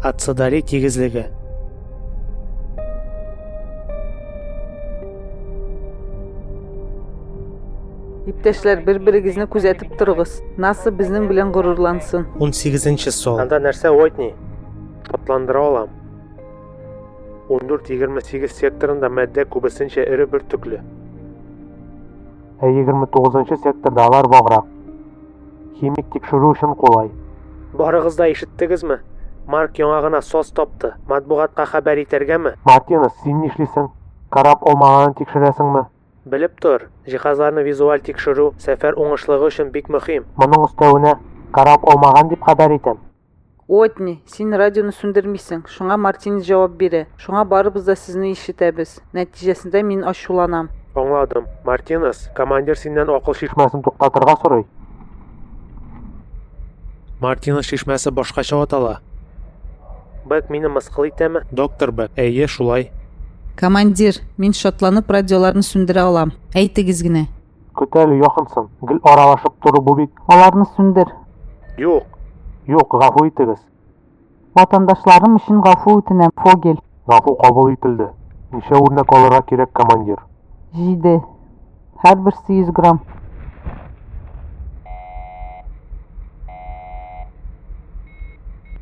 Аццадари тигезлеге Иптәшләр, бер-берегезне күзәтеп торыгыз. НАСА безнең белән горурлансын. 18 сон. Анда нәрсә Уайтни? Атландыра алам. 14-28 секторында матдә күбесенчә эре бөртекле. Ә 29 секторда алар ваграк. Химик тикшерү өчен кулай. Барыгыз да ишеттегезме? Марк яңа гына сос тапты. Матбугатка хәбәр итәргәме? Мартинес, син нишлисең? Карап алмаганын тикшерәсеңме? Белеп тор, җиһазларны визуаль тикшерү сәфәр уңышлыгы өчен бик мөһим. Моның өстәвенә, карап алмаган дип хәбәр итәм. Уотни, син радионы сүндермисең, шуңа Мартинес җавап бирә. Шуңа барыбыз да сезне ишетәбез. Нәтиҗәсендә мин ачуланам. Аңладым. Мартинес, командир синнән акыл чишмәсен туктатырга сорый. Мартинес чишмәсе башкача атала. Бэк мине мыскыл итәме? Доктор Бэк, әйе, шулай. Командир, мин шатланып радиоларны сүндерә алам. Әйтегез генә. Көт әле, якынсын. Гел аралашып тору бу бит. Аларны сүндер. Юк. Юк, гафу итегез. Ватандашларым өчен гафу үтенәм, Фогель. Гафу кабул ителде. Ничә үрнәк алырга кирәк, командир? Җиде. Һәрберсе 100 грамм.